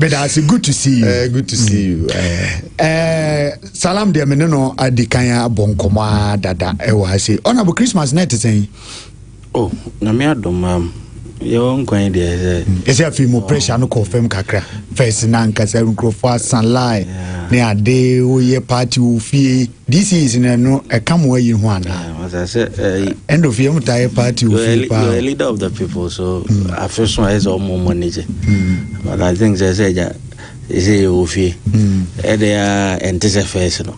bɛda ase good to see you. Uh, good to see you. Uh, eh. uh, eh, salam deɛ mene no adi kan abɔ nkɔmmɔ a dada ɛwɔ eh, ase ɔnabo christmas na ɛte sɛn oh, nyame adom am um, yɛwɔ nkwan deɛ sɛ ɛsɛ afei mu pressure no kɔɔ fam kakra fɛs na ankasa nkurɔfoɔ asan lie ne ade woyɛ party wo fie This is na ɛno ɛka mo ayi ho anaa? Eh, wata sɛ ɛyi. Eh, End of year mo taayɛ party ofie paa. You're a leader of the people so mm. afe so ayɛ sɛ ɔmo ɔmo ne gye. Mm. But I think sɛ sɛ ɛgya ɛsɛ yɛ wɔ fie. Mm. Ɛde a ɛnte sɛ fɛs no.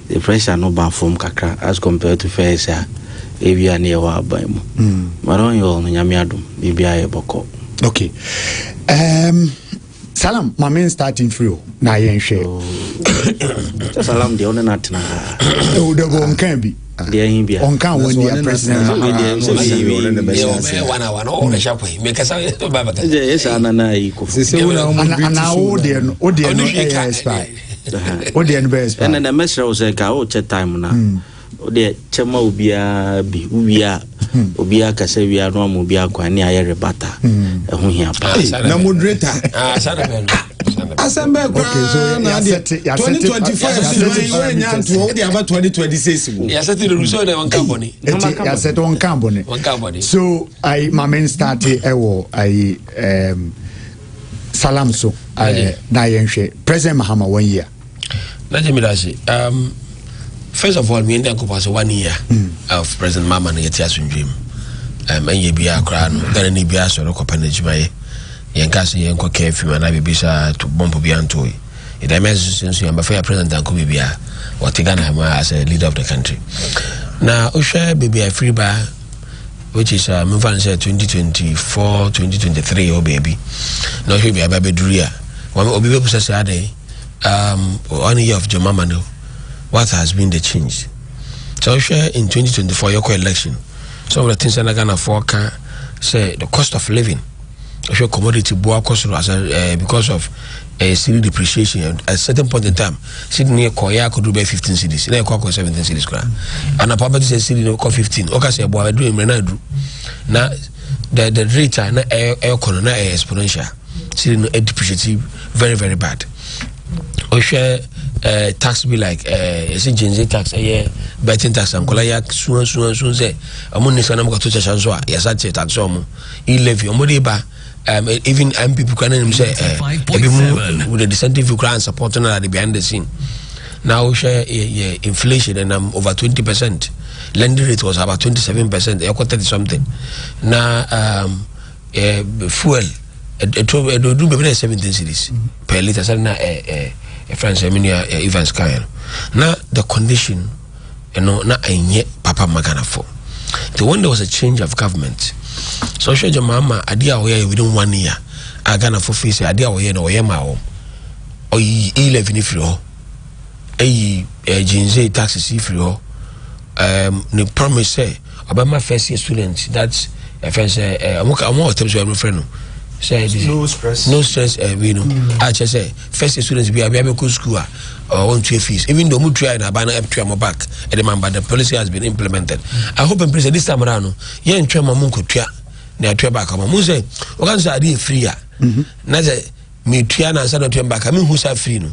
The pressure no ba fam kakra as compared to fɛs a ewia ne ɛwɔ aban mu. But ɔnyɛ ɔno nyame adum biribi ayɛ bɔkɔ. Okay. Um, salam ma me starting free o na yɛnhwɛ sɛ salam deɛ wone no atena ɛwo dɛbɔ ɔnka bi ɔnka wɔn deɛ president anaa wo deɛ no wo deɛ no ɛyɛ expire wo deɛ no bɛyɛ expire ɛnna mɛsrɛ wo sɛ ka wokyɛ time no a Wodeɛ kyɛ ma obiara bi wowie a hmm. obiara ka sɛ wia no ama obiara kwan ne ayɛ rebata hmm. ɛho hia paa ah, na moderator ah, asɛm bɛɛ koraa na adeɛ 2025 so wɛnya ntoɔ wode aba 2026 mu yɛsɛte no rusɛ dɛ wɔnka bɔne yɛsɛte wɔnka bɔne so ai ma men starte ɛwɔ ai salam so na yɛnhwɛ president mahama wɔn yia na gye meda ase um, first of all meyɛ nyankopɔn sɛ one year mm. of president mama no yɛte asomdwe mu um, ɛnyɛ biaa koraa no ghana ne biaa sɔre kɔpɛ no adwumayɛ yɛnka sɛ yɛnkɔ ka afim anaa biribi saa to bɔmpo bia ntoe ɛda mɛ nso sɛ nso yɛmbɛfa yɛ president anko biribi a wɔte ghana ma as a leader of the country na wohwɛ baabi a ɛfiri baa which is uh, memfa no sɛ 2024 2023 ɔ baabi na wohwɛ baabi a bɛduru a obi bɛbusa sɛ adɛn um one year of John Mahama no what has been the change sɛ wohwɛ in 2024 yɛkɔ election some of the things ɛna ghanafoɔ ka sɛ the cost of living wohwɛ commodity boa kɔ soro as a, uh, because of uh, eh, city depreciation at a certain point in time city no yɛkɔyɛ akɔduru bɛyɛ 15 cities na yɛkɔ akɔ 17 cities koraa anapa wobɛte sɛ city no kɔ 15 woka sɛ ɛboa aduru mmerɛ no aduru na the the rate a na ɛkɔ no na ɛyɛ exponential Siri no depreciate very very bad. Wohwɛ eh, tax bi like eh, ɛsɛ gyinzi tax ɛyɛ eh, betting tax ankola yɛ sua sua sua sɛ ɔmo nni sɛ na ɔmo kɔto kyɛhyɛ nso a yɛsa te tax ɔmo e levy ɔmo de ba um, e, even mpp kora nanim sɛ ebi mu with the dissenting view kora support no ade behind the scene na wohwɛ yɛ inflation ɛnam over twenty percent lending rate was about twenty seven percent ɛkɔ thirty something na um, ɛɛ fuel ɛtɔ ɛdɔduru bɛbi na seventeen cities per litre sɛ na ɛɛ ɛɛ ɛfɛn sɛ mi nua evans kan yɛn na the condition ɛno na ɛnyɛ papa maganafo nti when there was a change of government so ɔhwɛ gye maa ma adeɛ a wɔyɛ within one year a ghanafo fi sɛ adeɛ a wɔyɛ na wɔyɛ maa wɔn ɔyi e levy no firi hɔ ɛyi ɛɛ gyinze taxes yi firi hɔ ɛɛm ne promise sɛ. Ɔbɛma first year students that ɛfɛn eh, sɛ eh, ɔmo ka ɔmo ɔtɛm so ɛmo fɛ no sɛ ɛdi no stress no stress ɛwi eh, no mm. a kyɛ sɛ first year students bi a bi a bɛ kɔ school a ɔwɔ ntua fees even though ɔmo tua yɛ na aba na ɛtua ɔmo back ɛdi ma ba the policy has been implemented i hope and pray sɛ this time around no yɛn ntwa ma ɔmo nkɔ tua na ɛtua back ɔmo mo sɛ ɔka sɛ adi yɛ free a na sɛ. metua no ansa na ɔtua me baaka mehu saa firi no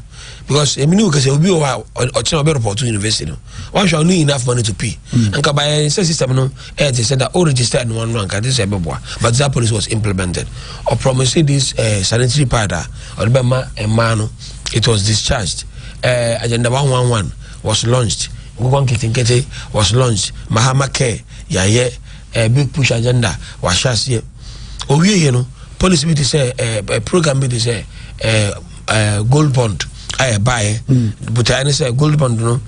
because ɛmi ne wo kɛsɛ obi wɔ hɔ a ɔkyena ɔbɛ report to university no wahwɛ ɔno enough money to pay mm. nka bayɛ sɛ system no ɛyɛ te sɛ da o register no ano anka te sɛ ɛbɛboa but that policy was implemented ɔpromise this uh, sanitary pad a ɔde bɛma mmaa no it was discharged uh, agenda 111 was launched nkokɔ nketenkete was launched mahama care yɛayɛ uh, big push agenda wahyɛ aseɛ owieɛ no policy bi te sɛ ɛɛ eh, program bi te sɛ ɛɛ eh, ɛɛ eh, gold bond a ɛbaeɛ hmm. botaeɛ ne sɛ gold bond no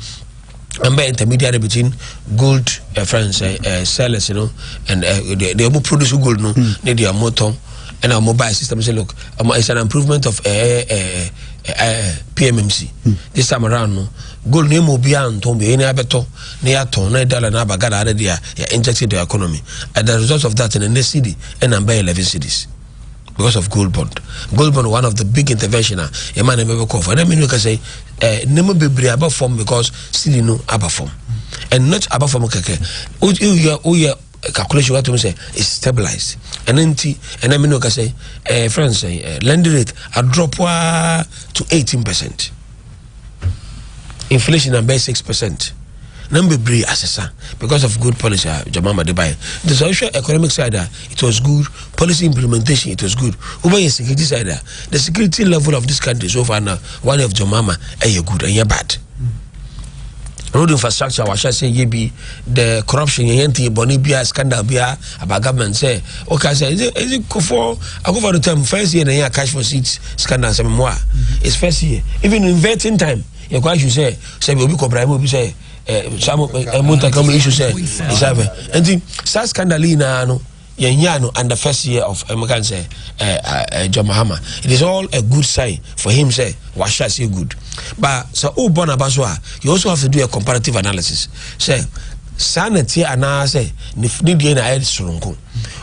ɛmbɛ intermediary between gold uh, friends uh, uh, sellers you know, and uh, they, they ɔmo produce gold no hmm. ne deɛ ɔmo tɔn ɛna ɔmo buy system say look um, it's an improvement of uh, uh, uh, PMMC hmm. this time around no gold na emu obiara ntɔn bi ɛni abɛtɔ na yɛ atɔn na yɛ dollar na aba ghana ara de a yɛ inject the economy as a result of that na ne cedi ɛna mbɛ eleven cities because of gold bond gold bond one of the big intervention a yɛ maa na ɛbɛ bɛ kɔ fɔ ɛna mi ni kasa yi ɛɛ nneɛma bebree aba fam because sili no aba fam and not aba fam kɛkɛ o yɛ o yɛ calculation wa to mi sɛ it's stabilized ɛna nti ɛna mi ni kasa yi ɛɛ friends ɛɛ lending rate a drop waa to eighteen percent. inflation na bɛyɛ six percent na mu bebree asesa because of good policy a John Mahama de baeɛ nti sɛ wohwɛ economic side a it was good policy implementation it was good wobɛyɛ security side a the security level of this country so far na one of John Mahama ɛyɛ good ɛnyɛ bad road infrastructure wahyɛ sɛ yɛ bi the corruption yɛyɛ nti bɔne biara scandal biara Aba government sɛ woka sɛ ɛdze ɛdze kofo akofo ado term first year na yɛ cash for seats sika na asɛm mu a mm-hmm. it's first year even in vetting time yɛ kɔ asu sɛ sɛ obi kɔ bribe obi sɛ samu ɛmuntaka mu isu sɛ ɛsɛfɛ nti saa scandal yi naa no yɛn yɛ ano and the first year of ɛmuka n sɛ ɛɛ John Mahama it is all a good sign for him sɛ wahyɛ ase good but sɛ o bɔ n'aba so a you also have to do a comparative analysis. sɛ saa na tie anaasɛ ne deɛ na ayɛ soronko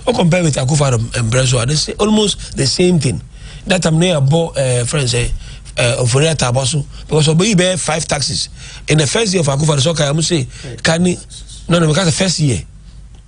o compare with akufa no mbrɛ so a they say almost the same thing that time ne yɛbɔ eh, friend sɛ eh, ofori atabɔ so because ɔbɛyi bɛyɛ five taxes in the first year of akufa no sɛ ɔka yɛ mo se ka ne no no meka sɛ first year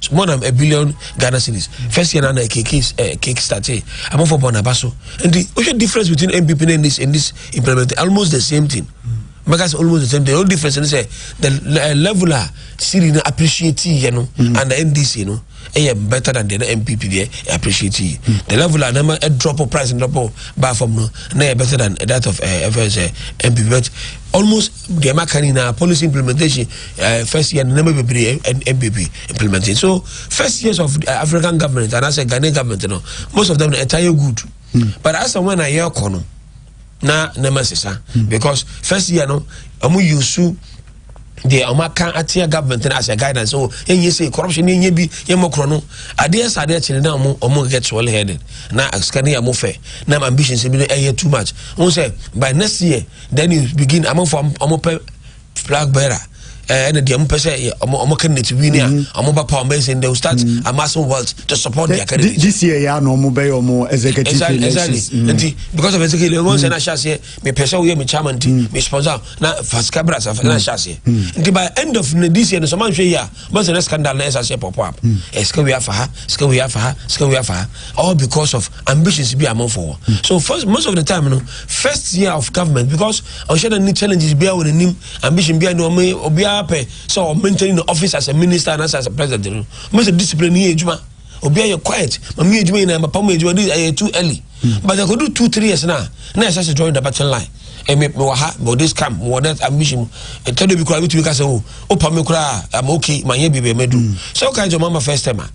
so more than a billion ghana cedis first year na na kick eh, kick start eh amafo bɔ n'aba so nti wohwɛ difference between npp and this and this implement almost the same thing mɛka sɛ almost the same thing the only difference ne sɛ the eh, level a siri no appreciate yɛ no mm. and the ndc no ɛyɛ better than the npp deɛ eh, appreciate yi mm. the level a nama drop price drop ba fam no na yɛ better than that of uh, eh, fs uh, npp but almost deɛ ma ka ne nyinaa policy implementation uh, first year nneɛma bebree ɛbɛ bi implementing so first years of uh, african government and anaasɛ ghanaian government no most of them ɛta yɛ good mm. but as and when a yɛrekɔ no na nneɛma sesa mm. because first year no wɔn yusu deɛ wɔn aka atea government no as a guidance so ɛnyɛ sɛ corruption ne ɛnyɛ bi yɛ mɔ korɔ no adeɛ sɛ adeɛ kyerɛ na wɔn wɔn get well headed na sika ne yɛ mo fɛ na ambitions bi no ɛyɛ too much wɔn sɛ by next year Then you begin amanfo a wɔn pɛ flag bearer eh, ɛna deɛ wɔn pɛ sɛ wɔn wɔn candidate win a wɔn mm-hmm. ba power wɔn bɛyɛ sɛ they will start mm-hmm. amassing wealth to support their eh, candidate. this year yɛ anɔ wɔn bɛyɛ wɔn executive elections. exactly mm-hmm. nti because of executive election wɔn sɛ na ahyɛ aseɛ mi pɛ sɛ wɔyɛ mi chairman ti mi sponsor na fasika brasa na ahyɛ aseɛ nti by end of this year no sɛ wɔn ahwɛ yie a. But the scandal na ɛsa sɛ pop up. Ɛsika wei afa ha, sika wei afa ha, sika wei afa ha. All because of ambitions bi amanfo wɔ. Hmm. So first most of the time no first year of government because ɔhyɛ na ni challenges bi a wɔ n'anim ambition bi a ni ɔmo obiara pɛ sɛ ɔ maintain the office as a minister and as a president no. Mo sɛ discipline ni yɛ adwuma. obi ayɛ quiet ma mi edwuma nyinaa papa mu edwuma di ayɛ too early hmm. but ɛkɔ do two three years na na ɛsɛ sɛ join the button line ɛmi eh, mi wɔ ha mi wɔ this camp mi wɔ that ambition mu ɛtɛ do bi kura mi tumi kasa o o pa mi kura am okay ma n yɛ biribi ɛmɛ du sɛ o ka n sɛ o ma ma first time a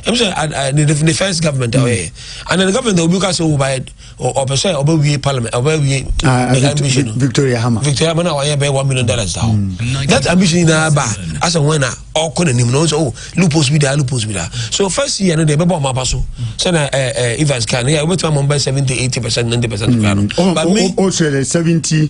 ɛmi sɛ ne first government a ɔyɛ and the government obi kasa o ba yɛ ɔpɛ sɛ ɔbɛwie parliament ɔbɛwie ah, eh, ambition no victoria hama victoria hama na wayɛ bɛyɛ one million dollars da hɔ mm. that ambition nyinaa ba asɛ wɔn na ɔkɔ n'anim na ɔn sɛ o loopholes bi da loopholes bi da so first year no deɛ ɛbɛbɔ ɔmo aba so sɛnɛ ɛɛ evans kan ne yɛ ɔbɛtuma mɔ bɛ seventy eighty percent ninety percent kura no. ɔn o o sɛ seventy.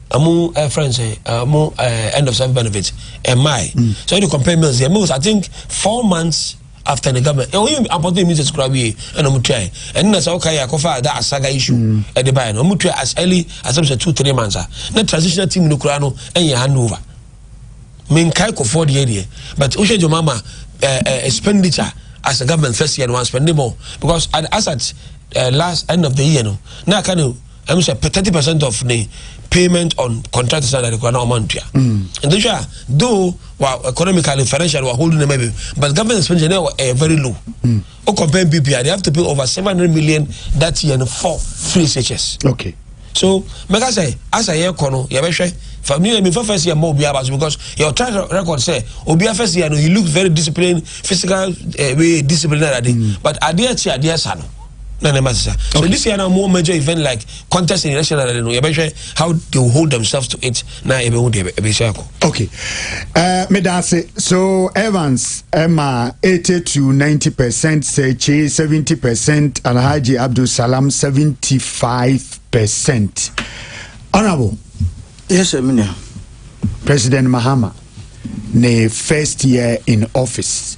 ɛmu ɛ fɛn sɛ ɛmu ɛ end of service benefit ɛmmae mm. so ɛde compare meals yɛ meals i think four months after the government ɛwɔ yɛ apɔtɔ emi sɛ sukura wie ɛna ɔmu tua yɛ ɛne na sɛ ɔka yɛ akɔfa da asaga issue mm. ɛde ba yɛ no ɔmu tua as early as ɛmu sɛ two three months a na transitional team no kura no ɛnyɛ hand over menkae kɔfoɔ deɛ deɛ but wohwɛ dwoma ma ɛ ɛ expenditure as a government first year no one spending more because as at uh, last end of the year no na aka no. ɛmu sɛ thirty percent of ne payment on contract salary kora na ɔma ntua nti hwɛ a though wa economically financially wa hold nneɛma bi but government expenditure na ɛyɛ very low mm. o compare bpa they have to pay over seven hundred million that year for free shs. okay so mɛka sɛ asa yɛ kɔ no yɛbɛhwɛ fa mi yɛ mi fa first year mɔ obiara baso because your track record sɛ obiara first year no he look very disciplined physical uh, way disciplined ade mm. but adeɛ kyi adeɛ sa no. na ne ma sesa so this year na wɔn wɔ major event like contest in election and no yɛbɛhwɛ how they will hold themselves to it na yɛbɛhu deɛ ɛbɛhyɛ akɔ. okay uh, meda ase so evans ɛma eighty to ninety percent sɛkye seventy percent alhaji abdulsalam seventy five percent honourable. yes sir mina. president mahama ne first year in office.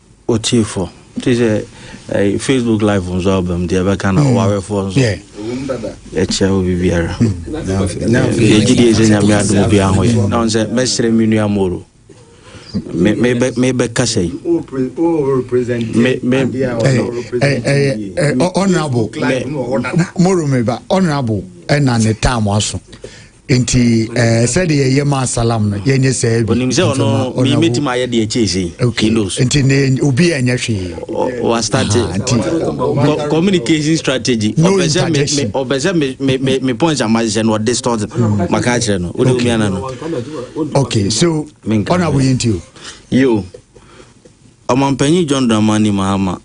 Otiefo, te sɛ ɛɛ Facebook live nso aba mu deɛ ɛbɛka na ɔwarefoɔ nso ɛkyɛ wo biribiara. Yɛgye die sɛ nyame adom bi aho yɛ na ɔn sɛ mɛsrɛ me nua moro mebɛka sɛ yi honorable moro meba honorable ɛna ne tam aso nti ɛɛ eh, sɛdeɛ yɛyɛ ma asalam no yɛnyɛ sɛɛ bi onim sɛ ɔno mɛtumi ayɛ deɛ ɛkyɛ sei okay nti ne obi a ɛnyɛ hwee wastate communication strategy ɔpɛ sɛ ɔpɛ sɛ me points ama hyɛ no ɔde stort maka akyerɛ no wode omi ana no okay so ɔna woyɛ nti o yo ɔmampanyin john dramani mahama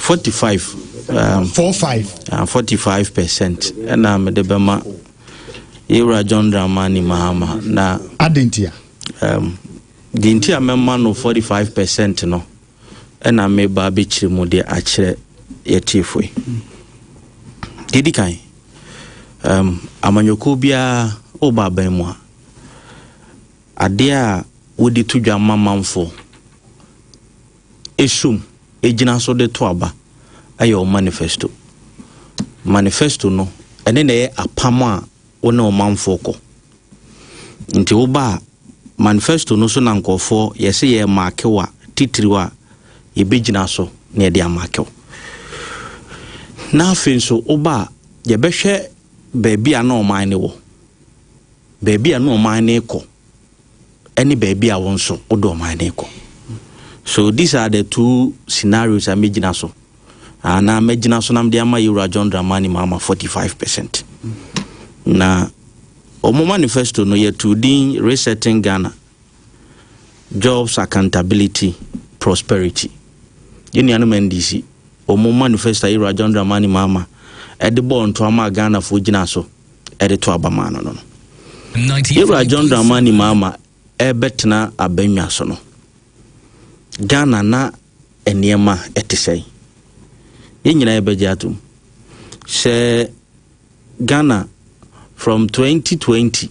forty five. Um, four five. Uh, forty five percent ɛna mede bɛma yɛwura john dramani mahama na. adentia. Um, deɛ nti a mɛma no forty five percent no ɛna meba abɛkyerɛ mu de akyerɛ yɛtiefoe deɛ di kan um, amanyɔkuo biara woba aban mu a adeɛ a wode to dwa ma manfoɔ esum gyina so de to aba yɛ wo manifesto. Manifesto no, ɛne na ɛyɛ apam a wo ne ɔmanfoɔ kɔ. Nti woba a, manifesto no so na nkurɔfoɔ yɛse yɛ maakew a titiriw a yɛbɛgyina so na yɛde amaakew. Na afei nso woba a, yɛbɛhwɛ baabi a na ɔman no wɔ, baabi a na ɔman no rekɔ. ɛne baabi a wo nso wode ɔman no rekɔ. So these are the two scenarios a mɛgyina so anaa mɛgyina so na mede ama Yewura John Dramani Mahama 45 percent. Na wɔn manifesto no yɛtu din Resetting Ghana Jobs Accountability Prosperity. Yɛn nuanom NDC wɔn manifesto a Yewura John Dramani Mahama ɛde bɔɔ ntoa maa Ghanafoɔ gyina so. de to aba maa no no no. Yɛwura John Dramani Mahama ɛrebɛtena abannwa so no, Ghana na nneɛma ɛte sɛn? Yɛn nyinaa yɛbɛgye atom sɛ Ghana from 2020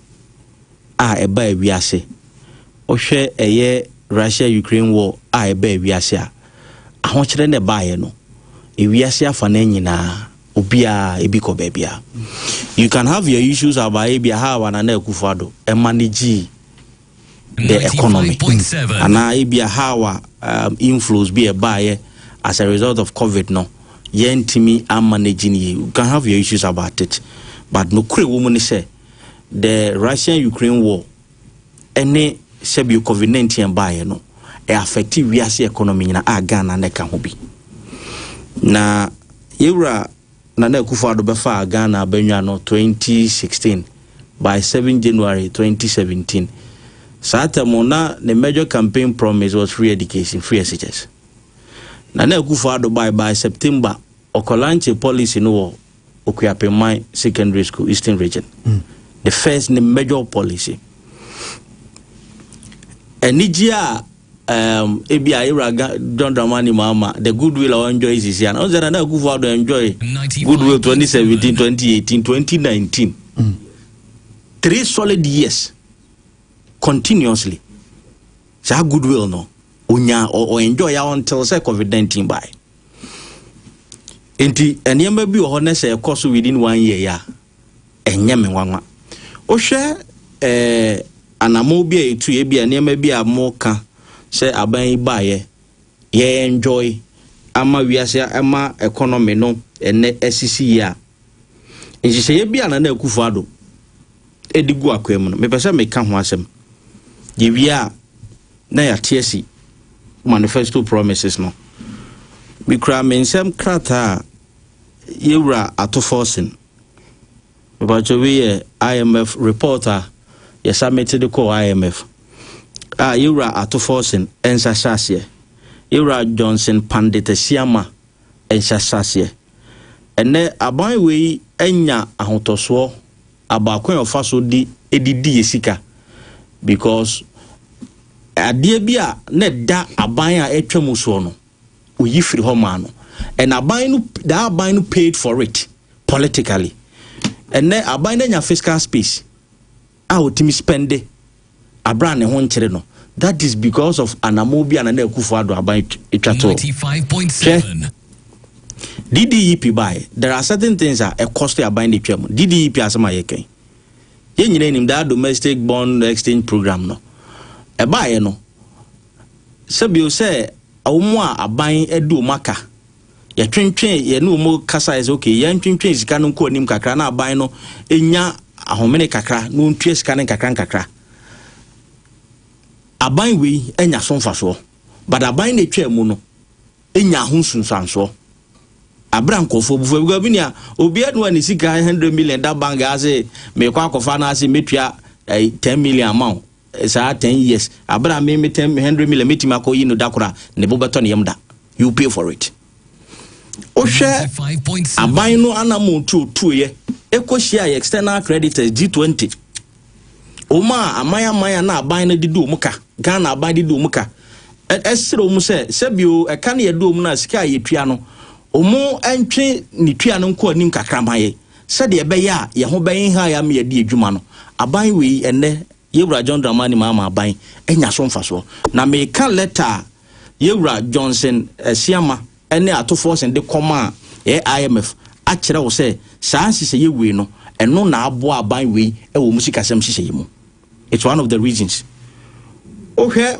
a ɛbaa wiase. Wohwɛ ɛyɛ Russia Ukraine war a ɛbaa wiase a, ahokyerɛ na ɛbaeɛ no. Ewiase afanan nyinaa, obiara ebi kɔ baabi a. You can have your issues about ebi aha a Nana Akufo-Addo ɛma ne gyii the economy anaa ebi aha a um, inflows bi ɛbaeɛ as a result of COVID no yɛntumi ama no gyi ne yie. You can have your issues about it but no kure wɔ mu ne sɛ the Russian Ukraine war ɛne sɛbio covid 19 ɛbaeɛ no ɛ affect wiase economy nyina a Ghana na ɛka ho bi na yɛwura Nana Akufo-Addo bɛfaa Ghana abɛnwa no 2016 by 7 January 2017 saa tɛmo na ne major campaign promise was free education free SHS Nana Akufo-Addo by by September ɔkɔlanche policy no wɔ Okuapingman Secondary School, Eastern Region, the first ne major policy. Anigye a um, ebi a Ewura John Dramani Mahama, the goodwill a enjoy sisi ana, ɔsɛ na na Akufo Addo enjoy goodwill 2017, 2018, 2019. Mm. Three solid years continuously. Saa goodwill no, onya, o enjoy ya until say COVID-19 by. nti nneɛma bi wɔ hɔ nɛ sɛ ɛkɔ so within one year ya ɛnyɛ me nwanwa wohwɛ ɛɛ anamo bi a etu ebi a nneɛma bi a mo ka sɛ aban yi baayɛ yɛ enjoy ama wiase ɛma economy no ɛnɛ asisi yie a nhyehyɛeɛ bi a nana akufo ado de gu akwaa mu no, mepɛ sɛ meka ho asɛm. Yɛwie a, na yɛate asi Manifesto Promises no. Mekura me nsɛm krataa a yɛwura ato Forson. Mepakyɛ wei yɛ IMF report a yɛsamete de kɔɔ IMF a yɛwura ato Forson nsa hyɛ aseɛ. Yɛwura Johnson Pandit Asiamah nsa hyɛ aseɛ. Ɛnnɛ, aban wei anya ahotɔsoɔ about kwan a ɔfa so de ɛde di yɛ sika because adeɛ bi a na ɛda aban a ɛtwa mu soɔ no ɔyi firi hɔ maa no and aban no that aban no paid for it politically ɛnɛ aban no anya fiscal space a ɔtumi spɛnde aberɛ a ne ho nkyere no that is because of anamɔn bi a Nana Akufo-Addo aban twa too. Hwɛ, DDEP baeɛ, there are certain things a ɛkɔste aban de twam. DDEP asɛm a yɛka yi, yɛn nyinaa nim that domestic bond exchange program no. Ɛbaeɛ no, sɛbio sɛ wɔn a aban adi wɔn aka yɛtwentwee yɛne wɔn kasaeɛ sɛ okay yɛntwentwɛn sika no nkɔ anim kakra na aban no nya ahomene kakra na wɔntua sika no nkakra nkakra aban wei anya so mfasoɔ but aban na ɛtwaa mu no nya ho nsunsuansoɔ abira nkɔfoɔ bufoɔ because bi nea obiara nua ne sika hundred million da bank ase mekɔ akɔfa no ase metua eh, ten million amount saa ten years abere a me me ten hundred million metumi akɔ yi no da koro a ne bo bɛtɔ ne yam da you pay for it wohwɛ aban no anamo tu otuoyɛ ɛkɔ hyia yɛ external creditors G20 wɔn a aman aman a na aban no didi wɔn ka Ghana aban didi wɔn ka ɛsrɛ wɔn sɛ sɛbio ɛka no yɛde wɔn no a sika a yɛtua no wɔn ntwe ne tua no nkɔ anim kakra ma yɛ Sɛdeɛ ɛbɛyɛ a yɛn ho bɛnha yɛn ama yɛadi adwuma no, aban wei ɛnnɛ Yɛwura John Dramani Mahama aban anya so mfasoɔ. Na meka lɛta a Yɛwura Johnson Asiamah ne Ato Forson de kɔmaa yɛn IMF akyerɛ wo sɛ saa nhyehyɛeɛ wei no, ɛno na aboa aban wei wɔ wɔn sikasɛm nhyehyɛeɛ mu. It's one of the reasons. Wohwɛ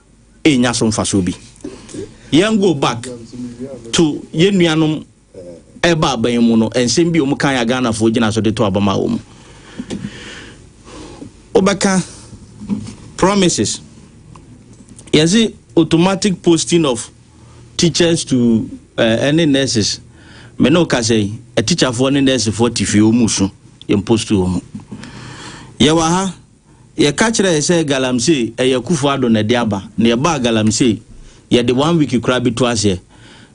enya so mfaso bi. Yɛn go back to yɛn nuanom ɛba aban mu no, nsɛm bi a wɔn kan a Ghanafoɔ gyina so de to abama wɔn. Wobɛka promises. Yɛsi automatic posting of teachers to ɛne eh, uh, nurses. Me ne woka sɛ atikyafoɔ ne nursefoɔ te fie wɔn mu so yɛn post wɔn mu. Yɛwɔ ha Yɛka kyerɛɛ yɛ sɛ Galamsey ɛyɛ Akuffo Addo na ɛde aba, na yɛbaa Galamsey, yɛde one week koraa bi to aseɛ.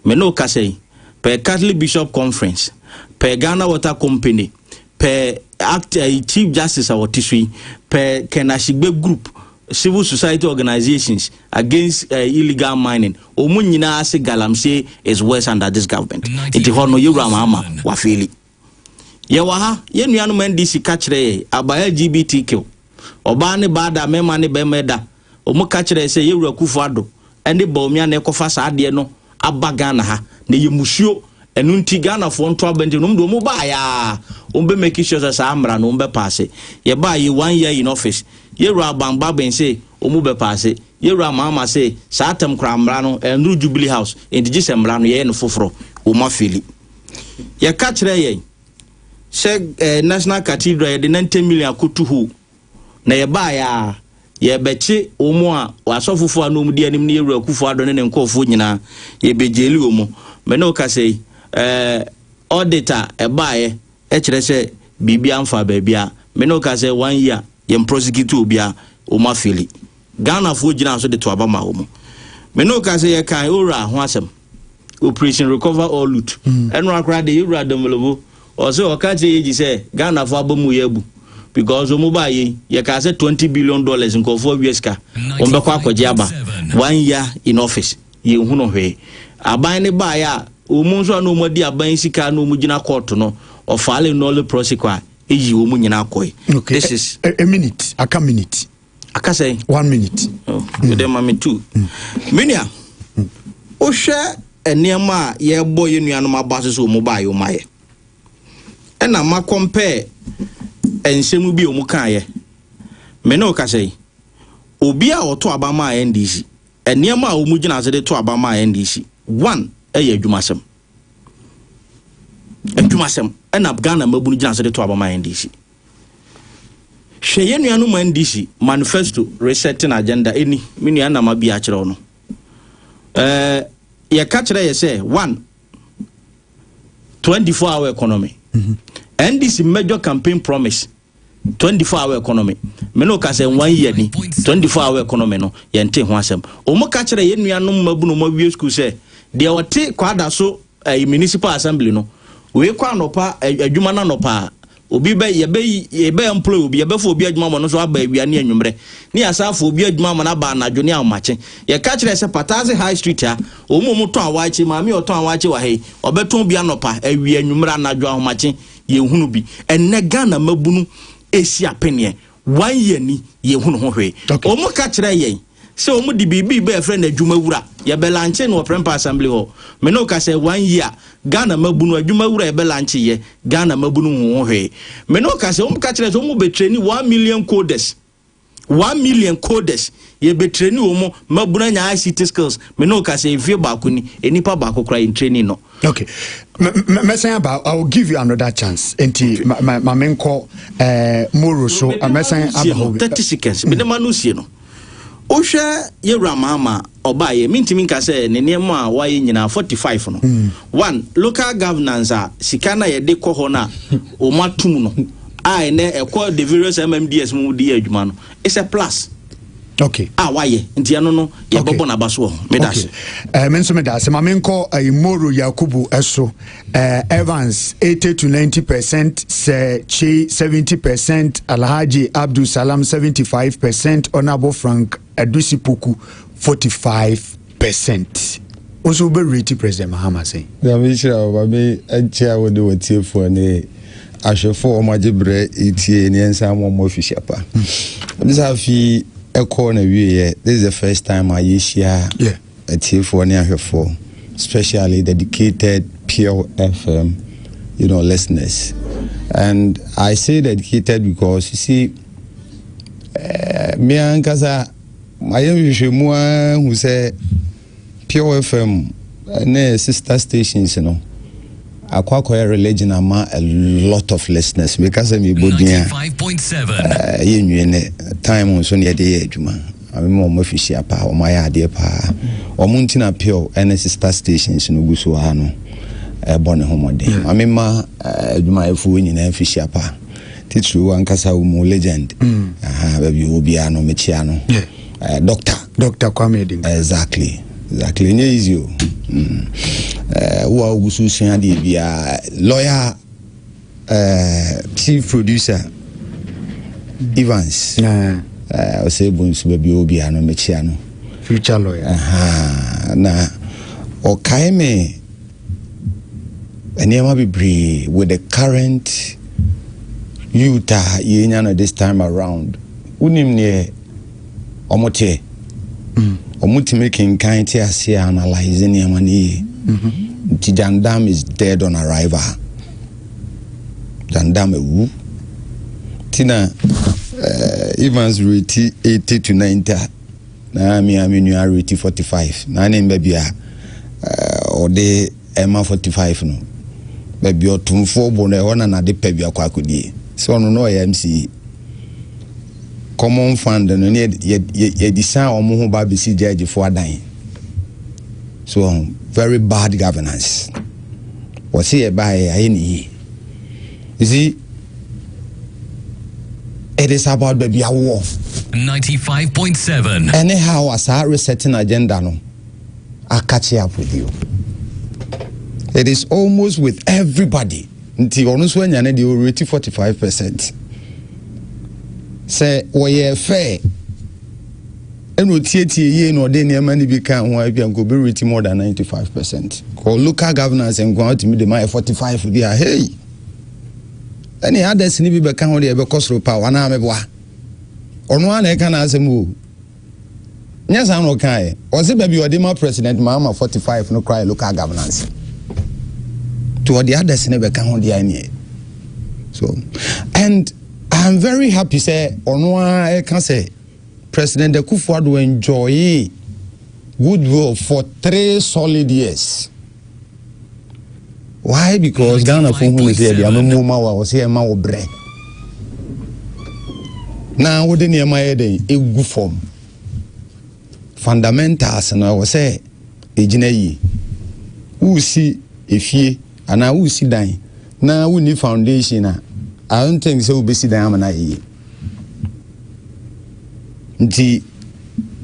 Me ne wo kasa yi, per Catholic Bishop Conference, per Ghana Water Company, per act ɛyi Chief Justice a ɔte so yi, per Ken Ashigbe Group, Civil Society Organisations against ɛɛ illegal mining, wɔn nyinaa se Galamsey is worse under this government. Nti hɔ no yɛ wura mahama wafeeli. Yɛwɔ ha, yɛn nuanom NDC ka kyerɛ yɛn about LGBTQ, ɔbaa ne baa da, mɛma ne bɛmɛ da, ɔmo ka kyerɛ yɛn sɛ yɛ wura Kufu Ado ɛne Bawumia na ɛkɔfa saa adeɛ no aba Ghana ha, na yɛ musuo, ɛno nti Ghana foɔ nto abɛnten na ɔmo de ɔmo baa yɛ aa, ɔmo bɛ make sure sɛ saa mmara no ɔmo bɛ paase. Yɛ baa yɛ one year in office, yɛ wura Aban Bagbin se ɔmo bɛ paase, yɛ wura Mahama se saa tɛm koraa mmara no ɛnnuru Jubilee House, nti gye sɛ mmara no yɛyɛ no foforɔ, ɔmo afeli. Yɛka kyerɛ yɛn sɛ eh, National Cathedral yɛde 90 million akotu hɔ na yɛbaeɛ a yɛbɛkye wɔn a asɔfofoɔ a na wɔn di anim no yɛwura Akufo Addo ne ne nkurɔfoɔ nyinaa yɛbɛgyeli wɔn. Me ne wo kasa yi eh, audit a ɛbaeɛ ɛkyerɛ sɛ biribi amfa baabi a me ne wo kasa one year yɛn prosecute obiara wɔn afeli. Ghanafoɔ gyinaa so de to aba maa wɔn. Me ne wo ka sɛ yɛkae Owura ho asɛm, Operation Recover All Loot. Ɛnora koraa de Owura Domolobo, ɔse ɔka kyerɛ Yegi sɛ Ghanafoɔ aba mu yɛ abu because wɔn baa yei, yɛkaa sɛ twenty billion dollars nkurɔfoɔ awia sika, wɔn bɛkɔ akɔgye aba. One year in office, yɛnhunu hwee. Aban no baeɛ a, wɔn nso a na wɔn adi aban sika a na wɔn gyina kɔɔto no, ɔfile nolle prosequi a, ɛyii wɔn nyinaa kɔe. Okay, This is. a, a minute, aka minute. aka sɛn one minute ɛdɛ oh, ma me tu menua wohwɛ nneɛma a yɛbɔ yɛ nuanom aba so sɛ ɔmu baa yɛ ɔmayɛ ɛna ma compare nsɛm bi a ɔmu kaayɛ me ne woka sɛn obi a ɔto aba maa ndc nneɛma a ɔmu gyina ase de to aba maa ndc one ɛyɛ adwumasɛm adwumasɛm ɛna ghana mmabunu gyina ase de to aba maa ndc Hwɛ yɛn nuanom Mandisi manifesto Resetting Agenda ɛni, me nua Nama Bia kyerɛw no. Ɛɛ yɛka kyerɛ yɛ sɛ one 24 hour economy. NDC mhm. major campaign promise 24 hour economy. Me no ka sɛ one year ni 24 hour economy no yɛnte ho asɛm. Wɔn ka kyerɛ yɛn nuanom mmabunu ma wie school sɛ deɛ ɔte kwada so ɛɛ eh, municipal assembly no wei kɔ anɔpa eh, adwuma no anɔpa Obi bɛ, yɛbɛ, yɛbɛ employ obi, yɛbɛ fa obi adwuma ama no nso aba awia ne anwummerɛ, ne yɛasan afa obi adwuma ama no aba anadwo ne ahomakye. Yɛka kyerɛɛ sɛ Pataase High Street ha, wɔn a wɔtɔn awaakye, maame a ɔtɔn awaakye wɔ ha yi, ɔbɛtɔn bi anɔpa, awia, anwummerɛ, anadwo, ahomakye, yɛnhunu bi. Ɛnnɛ Ghana mmabunu ɛresi apeneɛ, one year ni, yɛnhunu ho hwee. Okay. Wɔn ka kyerɛɛ yɛn. Sɛ wɔn de biribi reba yɛfrɛ no adwuma wura. Yɛ bɛ lankye no wɔ Prempeh Assembly hɔ. Me ne wo ka sɛ one year Ghana mmabunu adwuma wura yɛ bɛ lankye yɛ. Ghana mmabunu nhu ho hwee. Me ne wo ka sɛ wɔn ka kyerɛ sɛ wɔn bɛ treni one million coders. One million coders. Yɛ bɛ treni wɔn mmabunu anya ICT skills. Me ne wo ka sɛ mfie baako ni enipa baako kora yɛn treni no. Okay. Mɛsɛn aba I will give you another chance. Enti okay. ma ma menkɔ eh, moro so mɛsɛn aba hɔ. Thirty seconds. Me ne ma no sie no. Wohwɛ Yewura Maama ɔbaeɛ, mentumi nka sɛ ne nneɛma a wayɛ nyinaa, 45 no, mm. one, local governance a sika no a yɛde kɔ hɔ no a wɔn atum no, a ɛnɛ ɛkɔ the various MMDS mu di adwuma no, it's a plus. okay a ah, wayɛ nti ɛno no yɛbɛbɔ n'aba so wɔ ho meda ase eh, me nso meda ase ma menkɔ eh, moro yakubu eh, so Uh, Evans 80 to 90 percent, Sir Che 70 percent, Alhaji Abdul Salam 75 percent, Honorable Frank Adusi Poku 45 percent. Also, be rate President Mahama say. Nyame nhyira wo ba me ɛkyɛ a wode wɔtiefoɔ ne ahwɛfoɔ wɔn agye berɛ ɛtie ne ɛnsa mmɔ mmɔ afihyɛ pa ɛde sɛ afei ɛkɔɔ na wieɛ this is the first time a yɛhyia yeah. Atiefoɔ ne ahwɛfoɔ, specially dedicated Pure FM, you know, listeners. And I say dedicated because you see, uh, me ankasa, mayɛ nhwehwɛmu ahu sɛ Pure FM ne sister stations you no, know, akɔ akɔyɛ religion ama a lot of listeners meka sɛ mebɔ din a ɛyɛ nwie ne time nso ne yɛde yɛ adwuma Maame ma wɔn afihyia paa, wɔn ayɛ adeɛ paa. Wɔn nti na Pure ne sister stations no gu so ara no bɔ ne ho mmɔden. Maame ma adwumayɛfoɔ nyinaa afihyia pa, titiriw ankasa wo mu legend. Aha, baabi wɔ biara no mekyia no. Doctor. Doctor Kwame Edin. Exactly. Exactly. Enye easy o. Wo a wogu so sua adeɛ biara, lawyer Uh, chief producer Evans. Uh, uh, say bonsu baby obi ano me chia no. Future lawyer. Uh-huh. Na okay me nneɛma bebree with the current youth a yɛnya no this time around wonim neɛ wɔte, mm. wɔtumi kenkan te ase a analyze nneɛma no yie mm-hmm. nti jandam is dead on arrival jandam awu ti na uh, evans reti 80 to 90 a na me a me nua reti 45 na ne mba bi a ɔde uh, ɛma 45 no baabi ɔtomfoɔ bo no ɛhɔ na nade pɛ bi akɔ akɔdie sɛ ɔno na ɔyɛ mce Common Fund no ne yɛde san wɔn ho ba bɛsi gyɛɛgyefo adan so wɔn very bad governance wɔsi yɛ ba yɛ ayɛ ne yie you see it is about baabi awoɔ. ninety five point seven. ɛne ha wa saa resetting agenda no akakye apodie it is almost with everybody. Nti ɔno nso anya ne deɛ ɔreti forty five percent sɛ wɔyɛɛ fɛɛ ɛna ɔtietie yie na ɔde nneɛma no bi ka ho a ebia nka ɔbɛreti more than ninety five percent kɔ local governance nkoa ɔtumi de ma yɛ forty five bi a hei ɛne others no bi bɛka ho deɛ ɛbɛkɔ soro pa wɔn a mɛboa ɔno ara na ɛka n'asɛm o. Nyɛ saa na ɔkaa ɛ. Ɔse baabi a ɔde ma President Mahama 45 no koraa yɛ local governance. Nti ɔde others no bɛka ho deɛ neɛ. So, and I am very happy sɛ ɔno ara ɛka sɛ President Akufo-Addo enjoyee goodwill for three solid years. why because ghana fo hu ne sɛ yɛde amamuo ma wa wɔsɛ yɛma wo berɛ na wode nneɛma yɛ dɛn ɛgu fam fundamentals no ɛwɔ sɛ ɛgyina yie wosi efie anaa wosi dan na wonni foundation a i don't think sɛ wobɛsi dan ama no ayɛ yie nti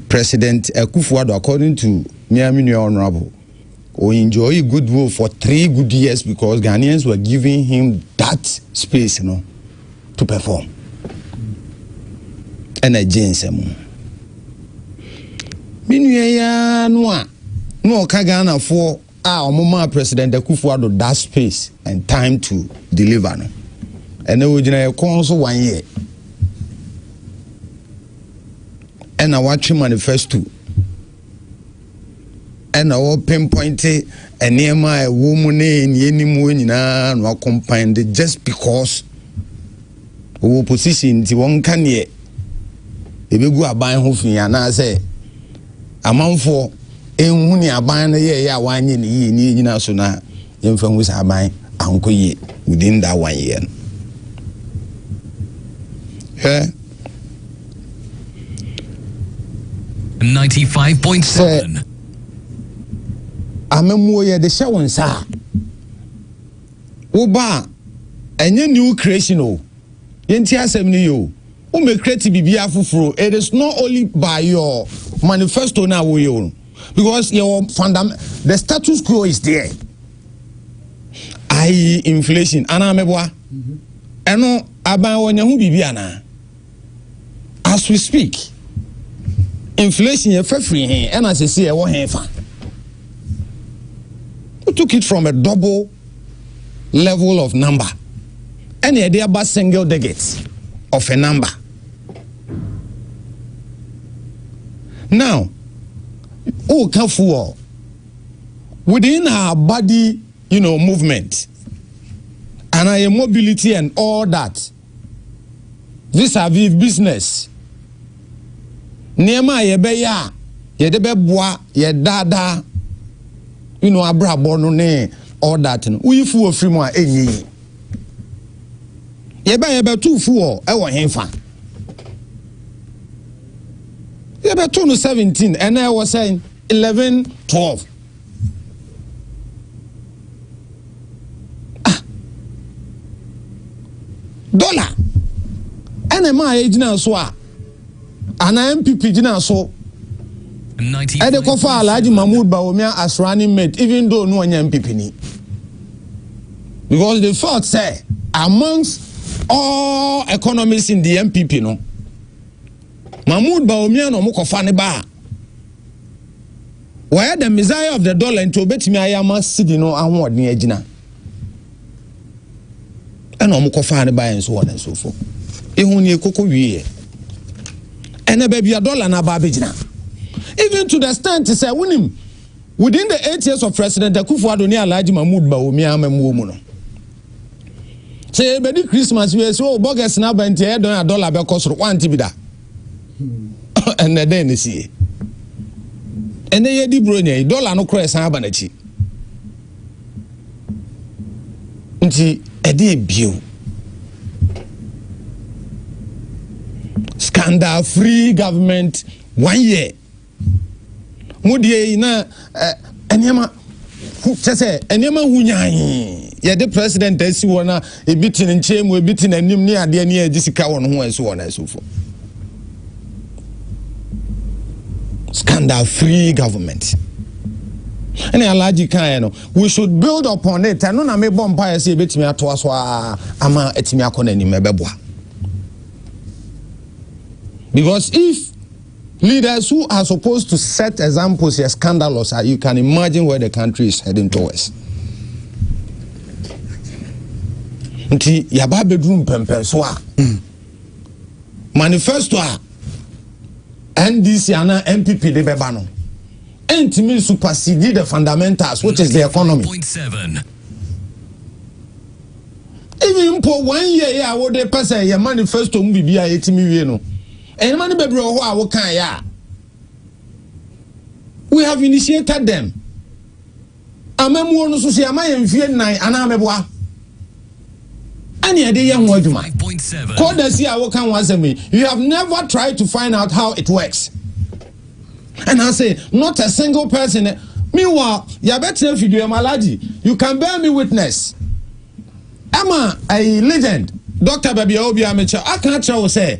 president akufo ado according to mea me nua honorable o enjoy good role for three good years because ghanaians were giving him that space no to perform ɛna gye nsɛm mu me nua yi ara no a na ɔka ghanafoɔ a wɔn maa president akufo ado that space and time to deliver no ɛna ogyina yɛ kɔn so one year ɛna watwe manifesto. Ɛna wɔ pinpointe nneɛma a ɛwɔ mu ne nea ɛni mu nyinaa na wɔakompan de just because wɔwɔ position nti wɔnka neɛ ɛbɛgu aban ho fi anaasɛ amanfoɔ ɛnhu ne aban no yɛɛyɛ a wɔanyɛ ne yie ne ɛnyina so no a Yɛmfa nhu sɛ aban ankɔ yie within that one year no. Hwɛ. 95.7 Sɛ amammuo yɛde hyɛ wo nsa a, woba a, ɛnyɛ new creation o. Yɛnti asɛm no yie o. Womɛkreti biribiara foforɔ. It is not only by your manifesto no a woyɛ o. because yɛwɔ fundam the status quo is there ayi inflation anaa mɛboa ɛno aban wɔnya ho biribi anaa as we speak inflation yɛ fɛ firi he ɛna sisi ɛwɔ he fa we took it from a double level of number ɛna ɛde aba single digit of a number. Now, woka fuel within our body, you know, movement and our mobility and all that vis-a-vis business. Nneɛma a yɛbɛyɛ a yɛde bɛboa yɛ daadaa, you know, abrabɔ no ne all that no. Woyi fuel firi mu a ɛnyɛ yi. Yɛbɛ yɛbɛto fu wɔ ɛwɔ henfa? Yɛbɛto no seventeen ɛnna ɛwɔ sɛn eleven twelve. Ah. Dollar ɛna ɛma a yɛgyina so a. anaa NPP gyinaa so ɛde kɔfa Alhaji Mahmoud Bawumia as running mate even though no ɔnyɛ NPP ni because they felt say amongst all economists in the NPP no Mahmoud Bawumia na wɔn kɔfa ne baa wɔyɛ the messiah of the dollar nti obetumi ayɛ ama sidi no ahoɔden agyina. ɛna wɔn kɔfaa ne baeɛ nso wɔ ne nso fam ihu ne koko wieɛ ɛnna baabi a dɔla no aba abɛgyina even to the extent sɛ wonim within the eight years of president akufo ado ne alhaji mahmood bawumia amamuo mu no sɛ yɛbɛdi christmas wei sɛ o oh, bɔgɛs no aba nti ɛyɛ dɔn a dɔla bɛkɔ soro wante bi da ɛnna dɛn ne sie ɛnɛ yɛdi buro nyɛ yi dɔla no korɔ ɛsan aba n'akyi Nti ɛdeɛn bio? Scandal free government one year. Mo deɛ yi na nneɛma kyɛ sɛ nneɛma hu nyan yɛde president asi hɔ na. Ebi te ne nkyɛn mu, ebi te n'anim ne adeɛ ne ɛgye sika wɔ ne ho ɛso wɔ n'ɛso fo. Scandal free government. Ɛna Alhaji kaeɛ no, we should build upon it. Ɛno na mebɔ mpaeɛ sɛ ebetumi atoa so a ama atumi akɔ n'anim ɛbɛboa. Because if Leaders who are supposed to set examples yɛ scandalous a you can imagine where the country is heading towards. Nti yaba abɛduru mpɛmpɛnso a manifesto a NDC ana NPP de bɛba no ɛntumi supersede the fundamentals which is the economy. Even mpo one year a wode pɛ sɛ yɛ manifesto mu biribi a ɛtumi wie no Nneɛma no bebree wɔ hɔ a wokaeɛ a, we have initiated them. Amammuo no so so yɛama yɛn mfeɛ nnan anaa meboa ɛne ɛde yɛ ho adwuma. Kɔdasi a woka ho asɛm yi, you have never tried to find out how it works. And I say, not a single person. Meanwhile, yɛbɛtena fidua mu alagye, you can bear me witness. Ɛma a legend, doctor baabi a obi a mekyɛ, aka akyerɛ wo sɛ,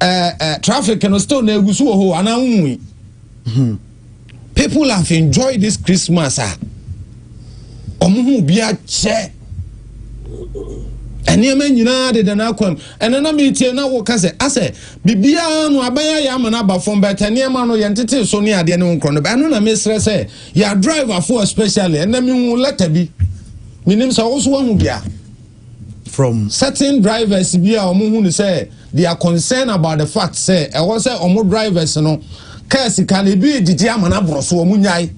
Eh, eh, traffic no still na egu so wɔ hɔ anaa wonwui. Hmm. People have enjoyed this Christmas a. Wɔn ho bi akyɛ. Nneɛma nyinaa deda n'akwam. Ɛnna na metie na woka sɛ, asɛ, biribiara no abɛyɛ yɛ ama no aba fam, but nneɛma no yɛntete so ne adeɛ ne ho nkorɔ no. Ɛno na mesrɛ sɛ, yɛ driverfoɔ especially, ɛnna mehu lɛta bi. Menim sɛ wo so woahu bi a. from certain drivers bi a wɔn hu no sɛ they are concerned about the fact sɛ ɛwɔ sɛ wɔn drivers no kaa sika no ebi gyegye ama no aboro so wɔn nyae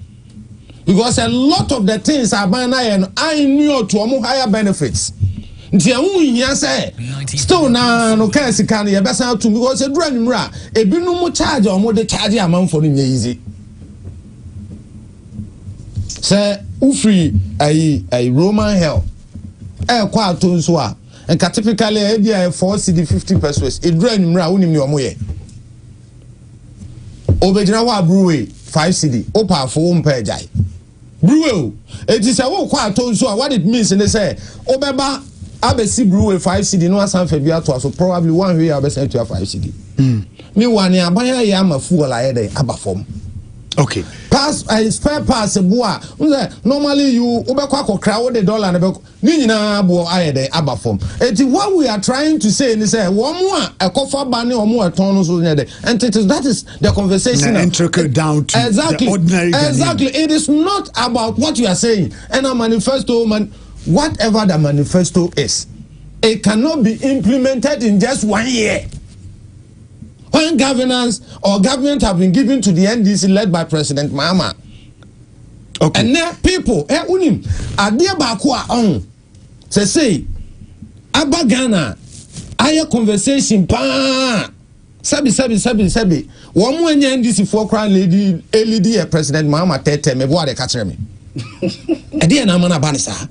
because a lot of the things aban no ayɛ no annual to wɔn higher benefits nti ɛho nhia sɛ still na no kaa sika no yɛbɛsan atum because eduru anwummerɛ a ebinom charge a wɔn de charge amanfo no nyɛ yizi sɛ wofiri ayi ayi roman hell. ɛrekɔ atɔ nsu a, nka typically a, ebi a yɛ four cedi fifty pesos. Eduru anwummere a, wonim nea wɔyɛ. Obegyina hɔ a brewery five cedi, wopɛ afo wo mpɛ agyae. Brewery o, eti sɛ wokɔ atɔ nsu a, what it means ne sɛ wobɛba abɛsi brewery five cedi na wasan fa bi atoa so, probably woanhwɛ yie a wobɛsan atua five cedi. Hmm. Mewa ne aban ayɛ ama fuel ayɛ dɛ aba fam. Okay. Pass uh, spare pass boa. Unse normally you ubekwa akokra wo de dollar na be ni nyina bo ayɛ dɛ aba fam. Eti what we are trying to say ni sɛ wɔn a ɛkɔfa ba ne wɔn a ɛtɔn no so nyɛ dɛ. And it is that is the conversation. Na intricate eh, down to exactly, the ordinary Ghanaian. Exactly. It is not about what you are saying. And a manifesto man whatever the manifesto is, it cannot be implemented in just one year. when governance or government have been given to the ndc led by president mahama okay. ɛnɛ people ɛ wonim adeɛ baako a ɔho sɛsei aba ghana ayɛ conversation paa sɛbi sɛbi sɛbi sɛbi wɔn mu anya ndc foɔ koraa lady elidi yɛ president mahama tɛɛtɛɛ mɛ buwa de ka kyerɛ mi ɛdi yɛ n'ama n'aba ne saa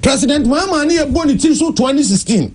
president mahama ne yɛ bɔ ne ti so twenty sixteen.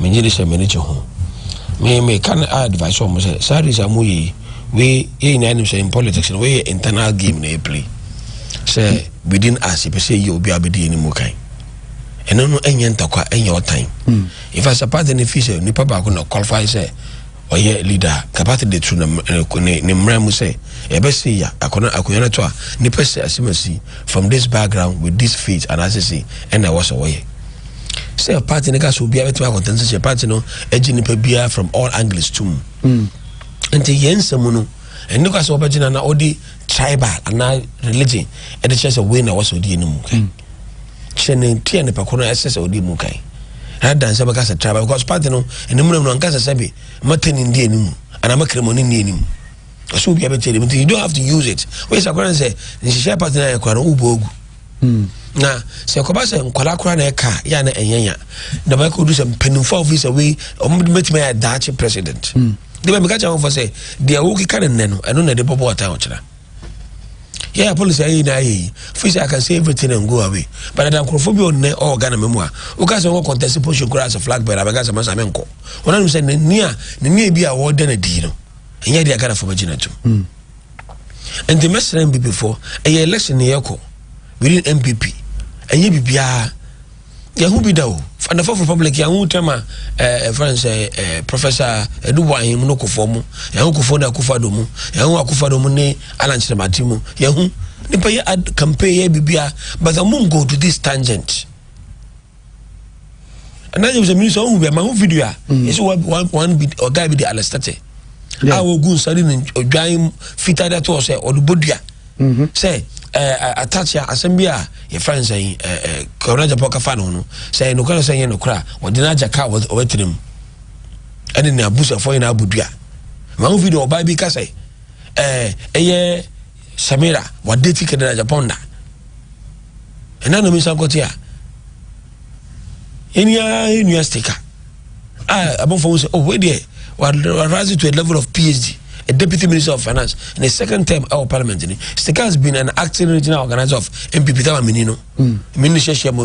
Menye de hyɛ m'ani gye ho. Me me ka no advice wɔn sɛ saa race a wɔyɛ yi wei yɛ nyinaa nim sɛ in politics no wei yɛ internal game na ɛpili sɛ within us yɛpɛ sɛ yɛ obi a bɛdi yɛn mu kan ɛno no ɛnyɛ ntakwa ɛnyɛ ɔtan nfa sɛ party no fi sɛ nipa baako na qualify sɛ ɔyɛ leader a capacity de to ne ne ne mmara mu sɛ ɛbɛ se ya akɔna akonnwa no to a nipa si asem asi from this background with this faith and asese ɛna ɛwɔ sɛ wɔyɛ sɛ party no ka sɛ obiara bɛtumi akɔntɛn sɛ sɛ party no agye nipa biara from all angles to mu mm. nti yɛn nsɛm no ɛne kwa sɛ wɔbɛgyina na ɔde tribal anaa religion ɛde kyerɛ sɛ wei na ɛwɔ sɛ ɔdi ɛno mu kan kyerɛ ne ti a nipa koro no ɛsɛ sɛ ɔdi mu kan rather sɛ bɛka sɛ tribal because party no ɛne mu na mu no anka sɛ sɛ bi mata ne ndi anim anaa makere mu ne ndi anim ɔsɛ obi abɛkyɛ anim nti you don't have to use it wei sɛ akora ne sɛ nhyehyɛ party no ayɛ kora no wobɔ agu Na sɛ ɛkɔba sɛ nkwadaa koraa na ɛka a yɛ a na ɛnyɛ nya na bɛka odu sɛ mpanimfoɔ a wɔfiri sɛ wei wɔn de bɛtumi ayɛ daakye president hmm. de bɛ meka kyɛ wɔn fɔ sɛ deɛ wɔkeka ne nnɛ no ɛno na ɛde bɔbɔ ɔtan ɔkyena yɛyɛ polisi ayɛ nyinaa yɛ yi firi sɛ aka sɛ everything and go away but ɛda nkurɔfoɔ bi ɔnnɛ ɔwɔ ghana mɛ mu a woka sɛ wɔkɔ contest position koraa sɛ flag bearer bɛka sɛ masa me nkɔ wɔn anum sɛ ne nia ne nia bi a wɔda no adi no ɛnyɛ deɛ ghanafoɔ bɛgyina tom hmm. Ɛnde mɛsra NPP fo. Ɛyɛ election na yɛkɔ. We need NPP. Ɛnyɛ bibiara. Yɛho bi da o. Fadafo of Republic yɛho tɛm a ɛfrɛ sɛ Professor Edubo Ahim no kofoɔ mu. Yɛho kofoɔ ne akufado mu. Yɛho akufado mu ne Alan Kyeremate mu. Yɛho. Nipa yɛ ad campaign yɛ bibiara. But I won't go to this tangent. ɛna nyɛ sɛ mini sɛ ɔhu bɛ ma ho video a ɛsɛ wɔn wɔn bi ɔga bi de alɛsitɛtɛ a wɔgu nsa de ne odwan fitaa de ato hɔ sɛ ɔde bɔ dua sɛ ɛɛ atakyia asɛm bi a yɛfrɛ no sɛ ɛɛ kɔrɔ japan kafa no no sɛ nokora sɛ yɛ nokora wɔde no agya kaa wɔatena mu ɛne ne abusuafoɔ nyinaa bɔ dua ma ho video ɔbaa bi ka sɛ ɛɛ ɛyɛ. Samira wadeti Kedra Japan da ɛna na mensa nkɔte a ɛni ara ɛnua stika a abɔfo ho sɛ oh wei deɛ rise to a level of phd a deputy minister of finance in his second term ɛwɔ parliament ni stika has been an acting regional organizer of npp tama mini no mini hyɛ hyɛ mu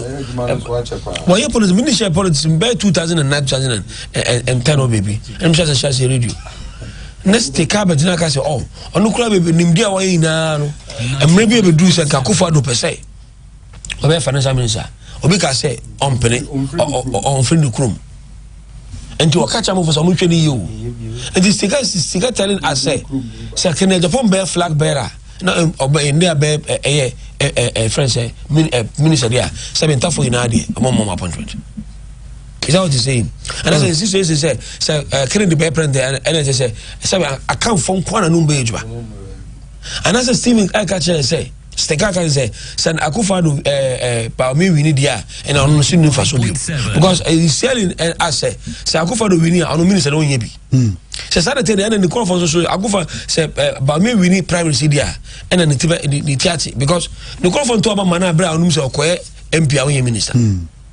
wɔyɛ politics mini hyɛ politics bɛyɛ 2009 2010 o baabi ɛnum hyɛ sɛ hyɛ sɛ radio ne stika bɛgyina ka sɛ oh ɔno kura bebe nimdi a wɔyɛ nyinaa no mmerɛ bi ebeduru sɛ nka akufo ado pɛ sɛ ɔbɛyɛ financial minister obi ka sɛ ɔmpene ɔnfiri ne kurom nti ɔka kyɛ amafo sɛ ɔmo nhwɛ ne yie o nti sika sika tɛne asɛ sɛ kene japan bɛyɛ flag bearer na ɔbɛ yɛn de abɛ ɛyɛ ɛɛ ɛɛ fɛn sɛ minister deɛ sɛbi ntafo nyinaa deɛ ɔmo mɔ ɔmo appointment. is that what you saying ɛna sɛ nsi so esi sɛ sɛ ɛɛ kennedy bɛyɛ president ɛna ɛsɛ sɛ sɛbi akanfo nkwa na num bɛ edwuma ɛna sɛ steven ɛka kyerɛ sɛ sika kan sɛ sɛ akufa do ɛɛ ɛɛ paami wini di a ɛna ɔno nso nufa so bi because ɛyi sɛlin ɛ asɛ sɛ akufa do wini a ɔno minisɛ na ɔnyɛ bi sɛ saa de te de ɛna ne kɔnfɔ nso so akufa sɛ ɛ paami wini primary si di a ɛna ne ti bɛ ne ti ate because ne kɔnfɔ ntɔ ɔba ma na abira ɔno mi sɛ ɔkɔɛ mp a ɔnyɛ minisɛ.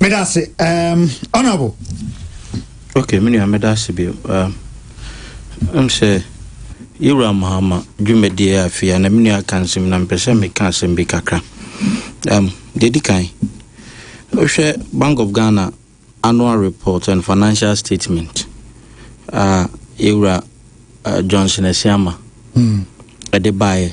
Medase, um, honorable. Okay, me nua medase bi. Um, I'm say yɛwura mahama dwumadie a afei a na me nua aka nsɛm na mpɛ sɛ meka asɛm bi kakra um, deɛ di kan wohwɛ bank of ghana annual report and financial statement a yɛwura uh, johnson asiama ɛde hmm. baeɛ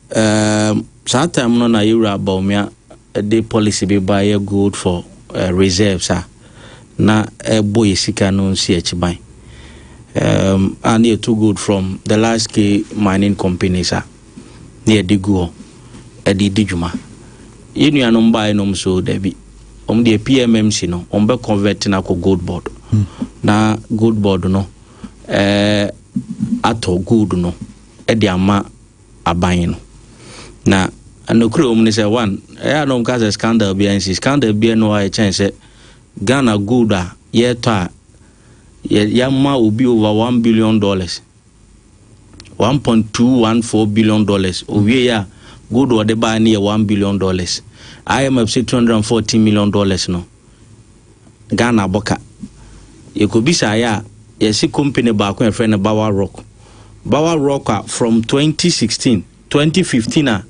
Erm saa time no na yɛwura Bawumia de policy bi ba yɛ gold for uh, reserves a na ɛbɔ yɛ sika no nsi akyiban um, a na yɛtu gold from the large scale mining companies a na yɛde gu hɔ ɛde di dwuma yɛ nuanom baeɛ nom so dabi wɔn deɛ PMMC no wɔn bɛ convert no akɔ gold board hmm. na gold board no ɛɛ eh, atɔ gold no ɛde ama aban no. Na nokorɛ wɔ mu ne sɛ, one, ɛyɛ a na wɔka sɛ scandal biara nsi. Scandal biara nni hɔ a ɛkyɛn sɛ Ghana gold a yɛretɔ a yɛama obi over one billion dollars, one point two one four billion dollars. Owie yɛ a gold a ɔde baa ne yɛ one billion dollars. IMF sɛ two hundred and fourteen million dollars no. Ghana bɔka. Yɛkɔbisaeɛ a, yɛse kompene baako a yɛfrɛ no Bawa Rock. Bawa Rock a from 2016, 2015 a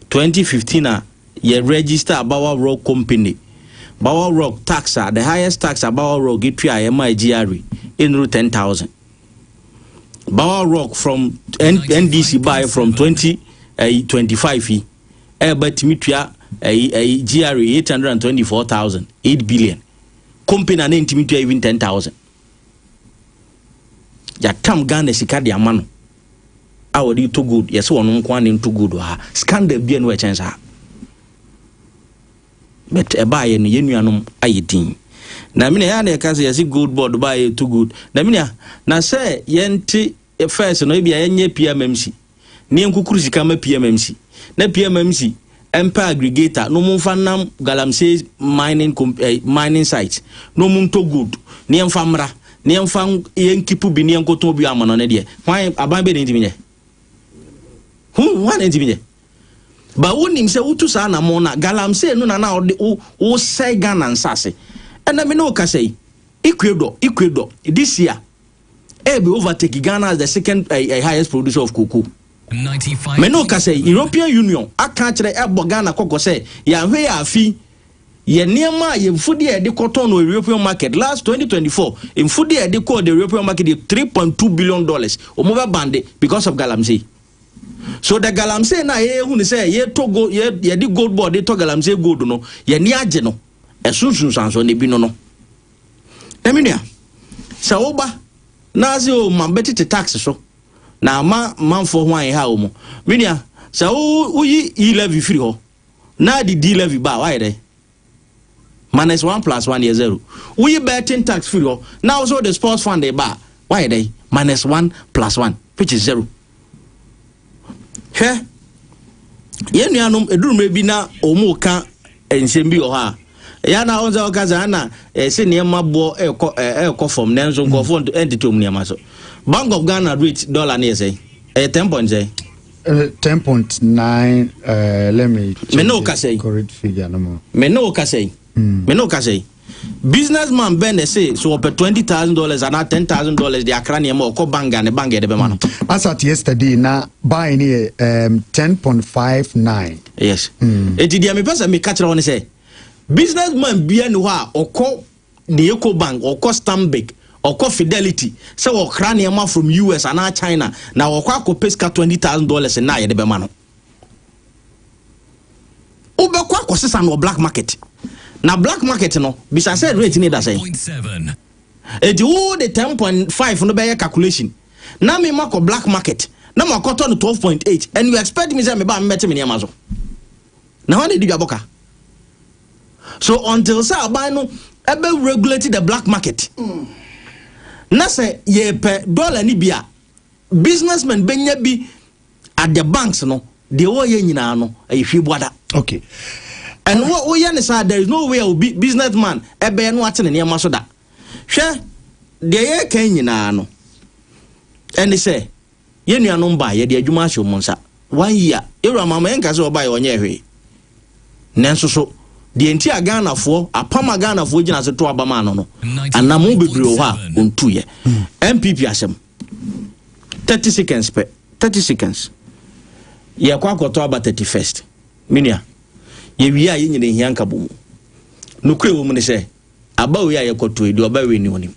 2015 a yɛ register Bawa Rock Company. Bawa Rock tax a, the highest tax a Bawa Rock tuaeɛ maa GRA ɛnuru 10,000. Bawa Rock from N- NDC baeɛ from 2025 yi. ɛba tumi tua ɛyi ɛyi GRA eight hundred and twenty four thousand eight billion company a ne ntumi tua even ten thousand yɛatam Ghana sika de ama no a wɔde to gold yɛsɛ wɔn nko ara ne nto gold wɔ ha scandal bi a no ɛkyɛn saa but ɛbaa yɛ no yɛn nuanom ayɛ din na mina yɛ na ɛka sɛ yɛsi gold board baa yɛ to gold na mina na sɛ yɛnte First no ebia yɛnyɛ PMMC na yɛnkukuru sika ma PMMC na PMMC mpɛ aggregator na wɔmfa nnam galamsey mining eh, mining site na wɔn ntɔ gold na yɛmfa mmra na yɛmfa yɛnkipu bi na yɛnkɔtɔn bi amana no deɛ hwan aban bɛ na ntumi nyɛ ho ho ana ntumi nyɛ ba wonim sɛ wotu saa anamɔ no a galamsey no na na wode wosɛe ghana nsase ɛna me ne wo kasa yi ecuador ecuador this year ɛɛbɛ overtake Ghana as the second uh, highest producer of cocoa. mɛ no ka sɛ European Union aka akyerɛ ɛbɔ Ghana kɔkɔ sɛ yɛahwɛ yɛ afi yɛ nneɛma a yɛ mfudeɛ a yɛde kɔtɔn no European market last 2024 mfudeɛ a yɛde kɔɔ the European market yɛ 3.2 billion dollars wɔn bɛ bande because of galamsey so the galamsey na yɛ hu ne sɛ yɛ tɔ gold yɛ yɛde gold board de tɔ galamsey gold no yɛ ni agye no ɛso nsunsuanso na ebi no no. Na me nua, sɛ woba na ase o ma bɛtete tax so na ama manfoɔ ho ayɛ ha o mu. Me nua, sɛ woyi yi levy firi hɔ na de di levy ba a wayɛ dɛ? Minus one plus one yɛ zero. Woyi betting tax firi hɔ na wo so de sports fund ba a wayɛ dɛ? Minus one plus one which is zero. hwɛ yɛn nuanom ɛduru mmerɛ bi na wɔn reka nsɛm bi wɔ hɔ a ɛyɛ na wɔn sɛ wɔka sɛ ana ɛsɛ nneɛma boɔ ɛrekɔ ɛrekɔ fam nanso nkurɔfoɔ ɛntete wɔn nneɛma so bank of ghana rate dollar ne yɛ sɛ ɛyɛ ten point sɛ. Uh, ten point nine uh, let me. me ne o kasa yi me ne o kasa yi me ne o kasa yi. businessman bɛn na ɛsɛ so ɔpɛ twenty thousand dollars anaa ten thousand dollars de akra nneɛma ɔkɔ bank a ne bank yɛ de bɛma no. Hmm. as at yesterday na buy ne yɛ um, ten point five nine. yes mm. eti deɛ mepɛ sɛ meka kyerɛ wɔn sɛ businessman bia ni hɔ a ɔkɔ ne eco bank ɔkɔ stanbic ɔkɔ fidelity sɛ ɔkra nneɛma from us anaa china na ɔkɔ akɔpɛ sika twenty thousand dollars na yɛde bɛma no. Wobɛkɔ akɔsesa no wɔ black market. Na black market no, bisa sɛ rate no da sɛn. Enti wo de ten point five no bɛyɛ calculation. Na me makɔ black market na makɔtɔ no twelve point eight and you expect me sɛ meba a mebɛte me nneɛma so. Na hwan na edi dwabɔ ka? So until sɛ aban no ɛbɛ regulate the black market. Na sɛ yɛpɛ dollar ni bi a businessmen bɛnya bi at the banks no deɛ wɔyɛ nyinaa no ɛyɛ hwii buada. okay and woyɛ ne saa there is no way a obi business man ɛbɛyɛ no ate ne nneɛma so da hwɛ deɛ yɛka nyinaa no ɛne sɛ yɛn nuanom ba yɛde adwuma ahyɛ wɔn nsa one year yɛwura mama yɛn nka sɛ ɔba yɛ ɔnyɛ hwee nanso so deɛ nti a ghanafoɔ apam a ghanafoɔ gyina ase to abama ano no anam bebree wɔ hɔ a ɔntu yɛ npp asɛm. Thirty seconds pɛ, thirty seconds. Yɛkɔ akɔtɔ aba thirty first. Me nua, yɛwie a yɛn nyina ehia nkabɔ mu. Nokorɛ wɔ mu ne sɛ, aba wei a yɛkɔtɔ yi, deɛ ɔba wei ni ɔnim.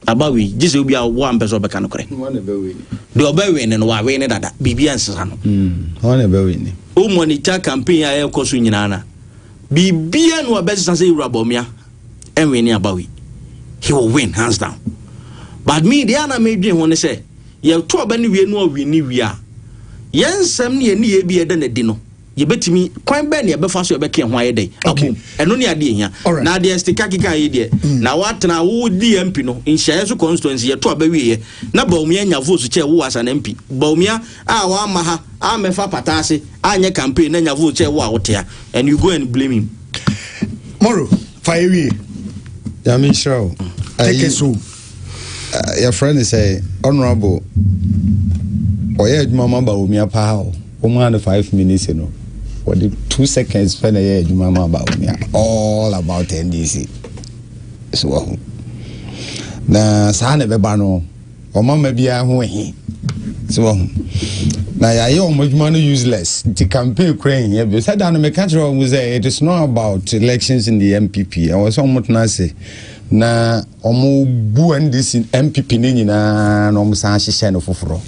Aba wei, gye sɛ obi a ɔwɔ ampɛ sɛ ɔbɛka nokorɛ. Deɛ ɔba wei ni no, wawe ne dada. Biribi ansesa no. Hɔn na ɛbɛ wei ni. O monitor campaign a ɛrekɔ so nyinaa na biribiara na wɔbɛsesa sɛ Ewura Bawumia. ɛnwe ne abawi he will win hands down but me deɛ ana medwen ho ne sɛ yɛto aba ne wie no ɔwe ne wie a yɛn nsɛm ne yɛn ne yɛ bi ɛda no adi no yɛbɛtumi kwan bɛɛ ne yɛbɛfa so yɛbɛka ho ayɛ dɛn abom ɛno ne adeɛ hia na deɛ stika keka yi deɛ mm. na woatena wo di mp no nhyɛeɛ so constituency yɛto aba wieɛ na baomia nya vote kyɛ wo asa na mp baomia a wamma ha ammɛfa pata ase anyɛ campaign na nya vote sɛ wo a wote ha and you go and blame him. Moro, fa yɛ wie. Nyame nhyira wo. Take it so. Yɛfrɛ ne sɛ honorable ɔyɛ adwuma ma Bawumia paa o. Wɔn a no five minutes no wɔde two seconds pɛ na ɛyɛ adwuma ma Bawumia all about NDC so wɔ ho na saa na ɛbɛba no. wɔn ama biara ho ahi so wɔn na yɛayɛ wɔn adwuma no useless nti campaign kura nhia bi sɛ da no meka kyerɛ wɔn sɛ it is not about elections in the mpp ɛwɔ sɛ wɔn tena ase na wɔn bu ndc mpp ne nyinaa na wɔn san ahyehyɛ no foforɔ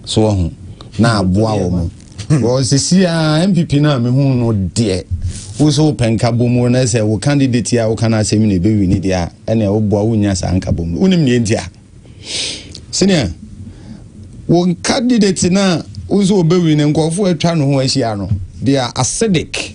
so wɔn na aboa wɔn. Hmm. Well, sisi a MPP na me hu no deɛ woso wopɛ nkabom wo na sɛ wo candidate a woka no asɛm na ɛbɛwi ne deɛ a ɛne woboa wonya saa nkabom no wonim neɛ nti a sɛnea wo candidate no a woso wɔbɛwi no nkurɔfoɔ atwa no ho ahyia no deɛ acidic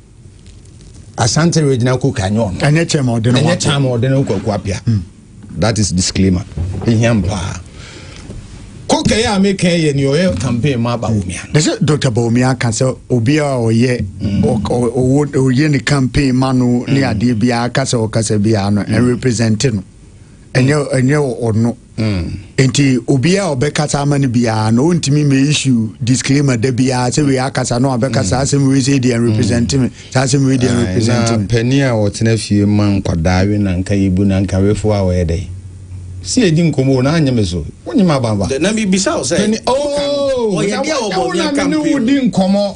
asante regional cook anyɛ ɔno ɛnyɛ kyɛn ma ɔde no ɛnyɛ kyɛn ma ɔde no kwaku apia hmm. that is disclaimer ehia mpaa kókè yɛ a meka yɛ ni ɔyɛ campaign ma bawumia. ne sɛ dr bawumia ka sɛ obiara ɔyɛ hmm. ɔwɔ ɔyɛ ne campaign ma no ne hmm. adeɛ biara kasa ɔkasa biara no ɛn represent no ɛnyɛ ɛnyɛ ɔno Mm. Enti obiara a ɔbɛkasa ama no biara na ɔntumi mɛ issue disclaimer da biara sɛ wei akasa no abɛka saa mm. asɛm wei sɛ deɛ represent me mm. saa asɛm wei deɛ ah, represent me. na panin a wɔtena fie ma nkwadaa we na nka yɛbu na nka wefo a wɔyɛ dɛ si edi nkɔmɔ o na anyɛ me so wonyɛ me abanba. na mi bisa o sɛ. panin ooo oh, na wɔyɛ deɛ wɔbɔ mi akampe o. na mi ni wo di nkɔmɔ.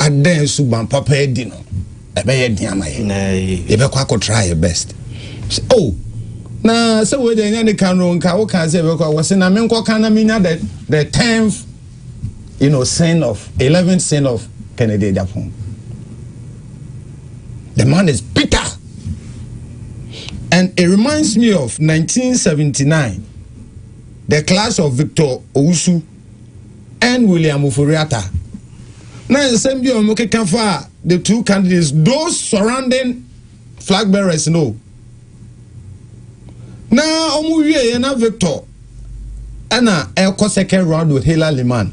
Ada suban papa adi no, ɛbɛyɛ den ama yɛn. Yɛbɛkɔ akɔtra yɛ best. Oh, na sɛ wei deɛ ɛnyɛ ne ka no nka woka sɛ yɛbɛkɔ wɔ se na menkɔka na menya the the tenth you know sin of eleventh sin of Kennedy Agyapong. The man is bitter. And it reminds me of 1979, the class of Victor Owusu. and William Ofori-Atta. Na nsɛm bi a wɔn keka fa the two candidates, those surrounding flag bearers no. Na wɔn wie yɛ na Victor ɛna ɛkɔ second round with Hela Liman.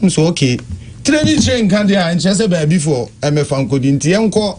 Nso okay. Tire ni tire nka deɛ a nkyerɛ sɛ baabi fo ɛmɛfa nkodi nti yɛn kɔ.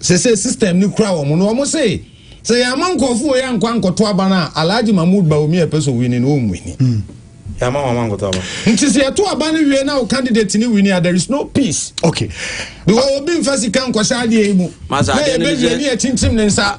sese system no kura wɔn no wɔn se sɛ yɛn ama nkɔfo wɔ yɛn ankɔ ankɔto aba no a alhaji mahmood baomi a ɛpɛ so wini no wɔn wini. Hmm. yɛn ama wɔn ama nkɔto aba. nti sɛ yɛto aba no wie na o candidate ni wini a there is no peace. okay. because obi nfa sika nkɔhyɛ adeɛ yi mu. masa adeɛ no bi sɛ na yɛbɛ wie ni yɛ tintim ne nsa.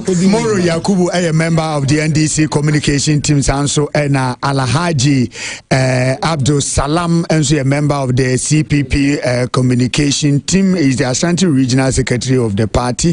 Moro Yakubu ɛyɛ member of the NDC communication team saa nso ɛna Alhaji eh, Abdul Salam nso yɛ member of the CPP eh, communication team is the Ashanti regional secretary of the party